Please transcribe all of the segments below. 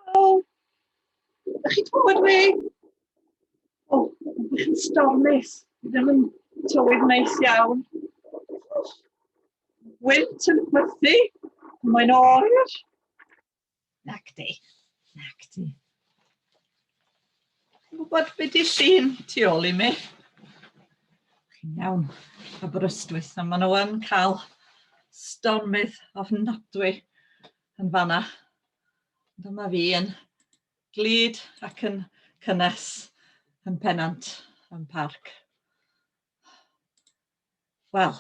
Helo! Ydych chi'n clywed fi? O, ydych chi'n stormus. Dwi ddim yn tywydd neis iawn. Wynt yn chwythu. Mae'n oer. Nac di. Nac di. Chi'n gwybod beth di sy'n tu ôl i mi? Chi'n iawn, y brystwys, a maen nhw yn cael stormydd ofnadwy yn fanna. Dyma fi yn glid ac yn cynnes yn penant yn parc. Wel,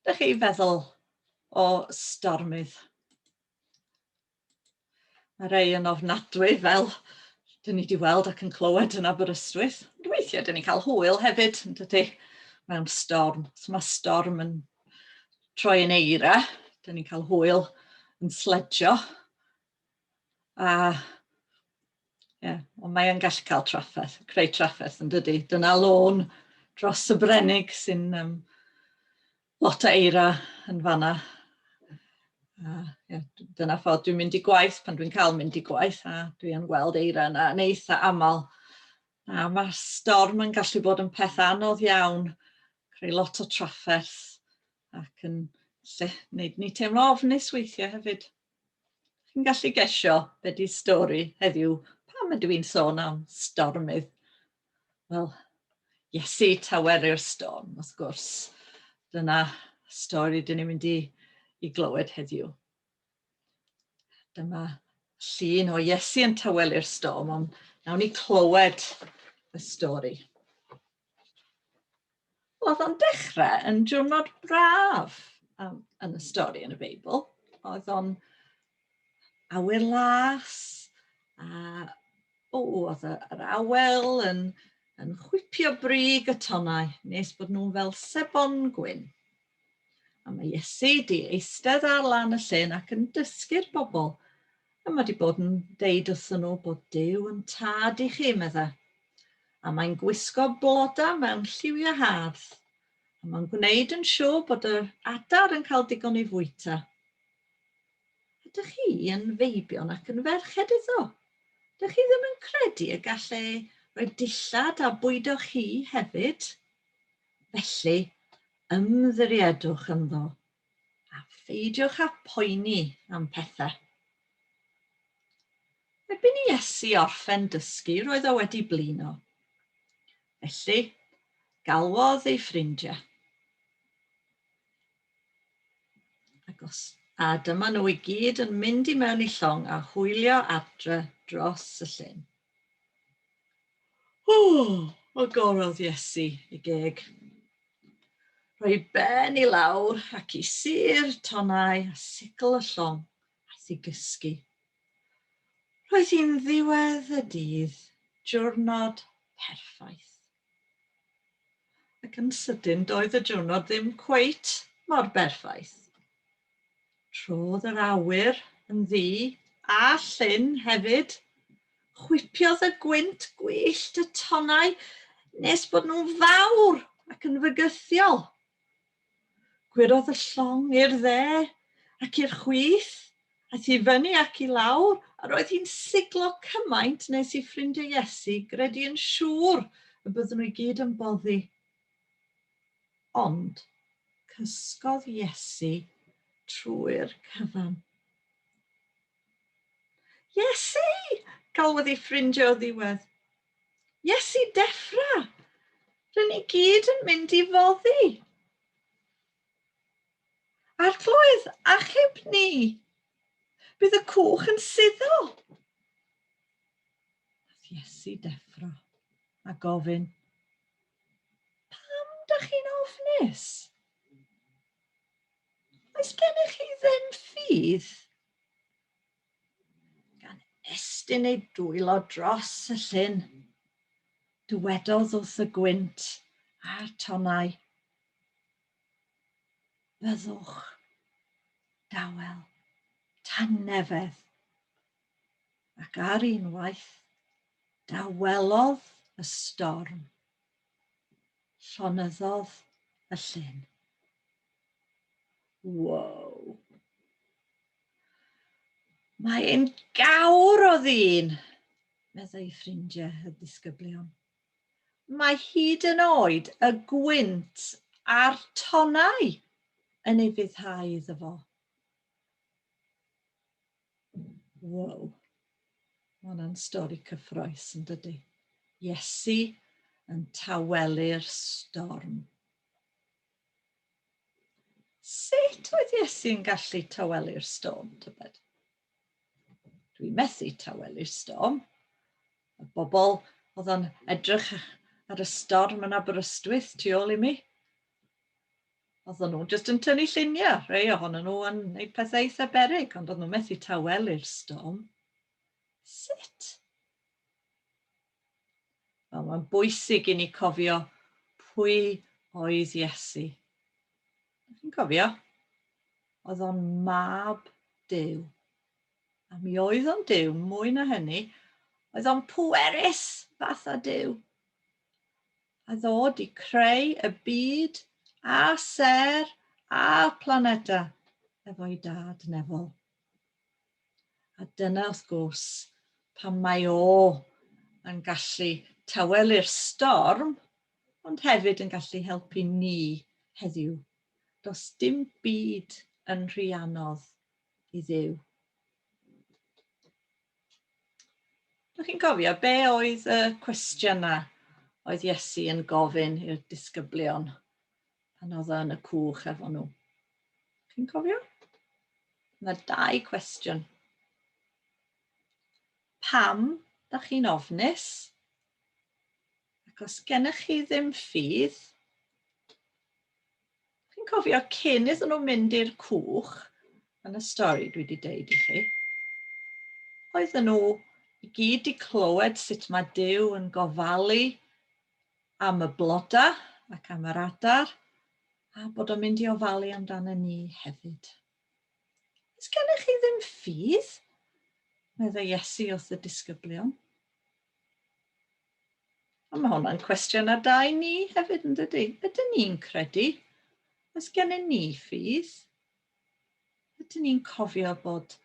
ydych chi feddwl o stormydd? Mae rhai yn ofnadwy fel dyn ni wedi weld ac yn clywed yn Aberystwyth. Ond weithiau dyn ni'n cael hwyl hefyd, yn dydy, mewn storm. Os mae storm yn troi yn eira, dyn ni'n cael hwyl yn sledjo. A yeah, ond mae e'n gallu cael trafferth, creu trafferth yn dydy. Dyna lôn dros y Brenig sy'n um, Lot o eira yn fanna. A ie, dyna ffordd dwi'n mynd i gwaith pan dwi'n cael mynd i gwaith a dwi yn gweld eira yna yn eitha aml. A mae'r storm yn gallu bod yn peth anodd iawn, creu lot o trafferth ac yn lle wneud ni teimlo ofnus weithiau hefyd. Chi'n gallu gesio be di stori heddiw pam ydw i'n sôn am stormydd? Wel, Iesu taweru'r storm, wrth gwrs. Dyna stori dyn ni'n mynd i, i glywed heddiw. Dyma llun o Iesu yn tawelu'r storm, ond nawn ni clywed y stori. Oedd o'n dechrau yn diwrnod braf um, yn y stori yn y Beibl. Oedd o'n awyr las, a o, oedd yr awel yn, yn chwipio brig y tonnau nes bod nhw'n fel sebon gwyn. A mae Iesu di eistedd ar lan y llyn ac yn dysgu'r bobl. A mae wedi bod yn deud wrthyn nhw bod Dyw yn tad i chi, meddai. a mae'n gwisgo blodau mewn lliwiau hardd, a mae'n gwneud yn siŵr bod yr adar yn cael digon i fwyta. Ydych chi yn feibion ac yn ferched eto? Ydych chi ddim yn credu y gall e roi dillad a bwydo chi hefyd? Felly, ymddiriedwch ynddo A pheidiwch â phoeni am pethau. Erbyn i Iesu orffen dysgu, roedd o wedi blino. Felly, galwodd ei ffrindiau. Agos. A dyma nhw i gyd yn mynd i mewn i llong a hwylio adre dros y llyn. Ww, o gorodd Iesu y geg. Rhoi ben i lawr ac i sir tonau a sigl y llong a thi gysgu. Roedd hi'n ddiwedd y dydd, diwrnod perffaith. Ac yn sydyn doedd y diwrnod ddim cweit mor berffaith. Trodd yr awyr yn ddu a llyn hefyd. Chwipiodd y gwynt gwyllt y tonnau nes bod nhw'n fawr ac yn fygythiol. Gwyrodd y llong i'r dde ac i'r chwith, aeth i fyny ac i lawr, a roedd hi'n siglo cymaint nes i ffrindiau Iesu gredu yn siŵr y bydden nhw i gyd yn boddi. Ond, cysgodd Iesu trwy'r cyfan. Iesu! galwodd ei ffrindiau o ddiwedd. Iesu, deffra! Rydyn ni gyd yn mynd i foddi! Arglwydd, achub ni! Bydd y cwch yn suddo! Nath Iesu deffro a gofyn, Pam dach chi'n ofnus? Oes gennych chi ddim ffydd? Gan estyn ei dwylo dros y llyn, dywedodd wrth y gwynt a'r tonnau, Byddwch dawel tan nefedd Ac ar un waith, dawelodd y storm. Llonyddodd y llyn. Wow! Mae ein gawr o ddyn, meddai ffrindiau y disgyblion. Mae hyd yn oed y gwynt a'r tonnau yn ei fyddhau iddo fo. Wow. Mae hwnna'n stori cyffroes yn dydy. Iesu yn tawelu'r storm. Sut oedd Iesu'n gallu tawelu'r storm, tybed? Dwi'n methu tawelu'r storm. Y bobl oedd o'n edrych ar y storm yn Aberystwyth tu ôl i mi. Oedden nhw jyst yn tynnu lluniau, rhai ohonyn nhw yn gwneud pethau eitha beryg, ond oedden nhw methu tawelu'r storm. Sut? Wel, mae'n bwysig i ni cofio pwy oedd Iesu. Chi'n cofio? Oedd o'n mab Dyw. A mi oedd o'n Dyw, mwy na hynny, oedd o'n pwerus fath a Dyw. a ddod i creu y byd a sêr a planeda efo'i dad Neville. A dyna wrth gwrs pan mae o yn gallu tawelu'r storm, ond hefyd yn gallu helpu ni heddiw. Does dim byd yn rhy anodd i ddew. Dych chi'n cofio, be oedd y cwestiynau oedd Iesu yn gofyn i'r disgyblion pan oedd yn y cwch efo nhw? Dych chi'n cofio? Mae dau cwestiwn. Pam da chi'n ofnus? Ac os gennych chi ddim ffydd, Chi'n cofio cyn iddyn nhw mynd i'r cwch, yn y stori dwi wedi deud i chi, oedden nhw i gyd wedi clywed sut mae Dyw yn gofalu am y blodau ac am yr adar, a bod o'n mynd i ofalu amdano ni hefyd. Ys gennych chi ddim ffydd? Medde Iesu wrth y disgyblion. A mae hwnna'n cwestiwn ar dau ni hefyd yn dydy. Ydyn ni'n credu? Os gennym ni ffydd? Ydyn ni'n cofio bod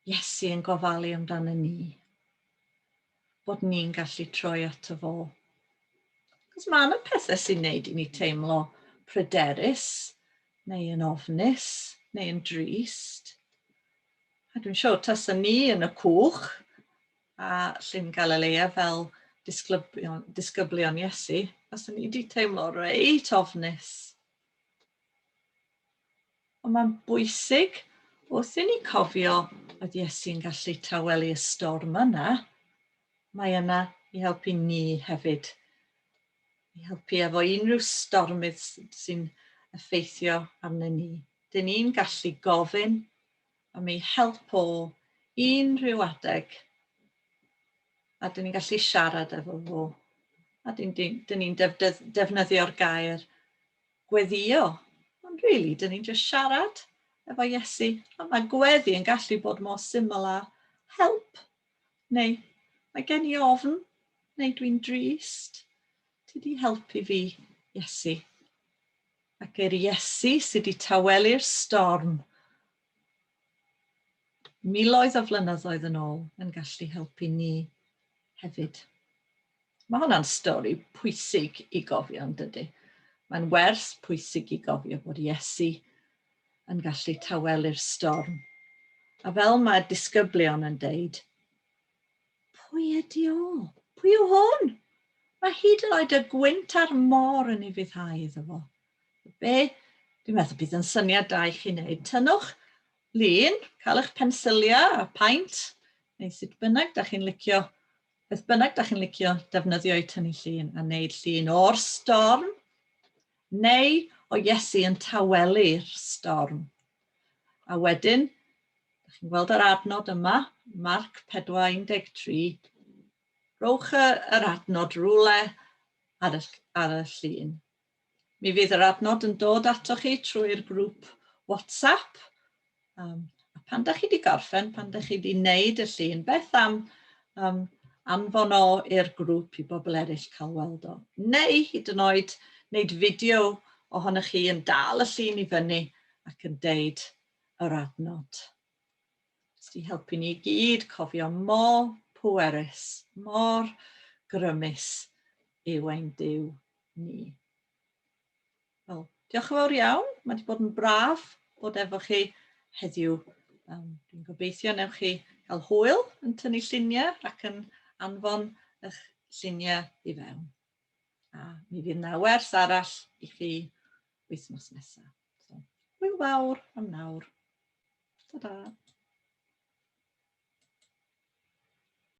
Iesu yn gofalu amdano ni? Bod ni'n gallu troi ato fo? Cos mae yna pethau sy'n neud i ni teimlo pryderus, neu yn ofnus, neu yn drist. A dwi'n siŵr tasen ni yn y cwch a Llyn Galilea fel disglybion, disgyblion Iesu, faswn ni wedi teimlo reit ofnus. Ond mae'n bwysig wrth i ni cofio oedd Iesu'n gallu tawelu y storm yna, mae yna i helpu ni hefyd. i helpu efo unrhyw stormydd sy'n effeithio arnyn ni. Dyn ni'n gallu gofyn am ei help o unrhyw adeg a dyn ni'n gallu siarad efo fo. A dyn, dyn, dyn ni'n defnyddio'r gair gweddio. Ond rili, really, dyn ni'n just siarad efo Iesu. A mae gweddi yn gallu bod mor syml â help Neu, mae gen i ofn, neu dwi'n drist. Ti di helpu fi, Iesu. Ac yr Iesu sydd wedi tawelu'r storm miloedd o flynyddoedd yn ôl yn gallu helpu ni hefyd. Mae hwnna'n stori pwysig i gofio yn dydy. Mae'n werth pwysig i gofio bod Iesu yn gallu tawelu'r storm. A fel mae'r disgyblion yn deud, pwy ydi o? Pwy yw hwn? Mae hyd yn oed y gwynt a'r môr yn ei fuddhau iddo fo. Be? Dwi'n meddwl bydd yn syniad da i chi wneud. Tynnwch lun, cael eich pensiliau a paint, neu sut bynnag da chi'n licio, beth bynnag da chi'n licio defnyddio i tynnu llun a wneud llun o'r storm Neu o Iesu yn tawelu'r storm. A wedyn, da chi'n gweld yr adnod yma, Marc 4:13, rowch yr adnod rwle ar y, ar y llun. Mi fydd yr adnod yn dod ato chi trwy'r grŵp WhatsApp Um, a pan da chi wedi gorffen, pan da chi wedi wneud y llun, beth am um, anfon o i'r grŵp i bobl eraill cael weld o. Neu hyd yn oed wneud fideo ohonych chi yn dal y llun i fyny ac yn deud yr adnod. Jyst i helpu ni i gyd cofio mor pwerus, mor grymus yw ein Dyw ni. Wel, diolch yn fawr iawn. Mae wedi bod yn braf bod efo chi heddiw. Um, dwi'n gobeithio newch chi cael hwyl yn tynnu lluniau ac yn anfon eich lluniau i fewn. A mi fydd na wers arall i chi wythnos nesaf. So, hwyl fawr am nawr. Ta-da!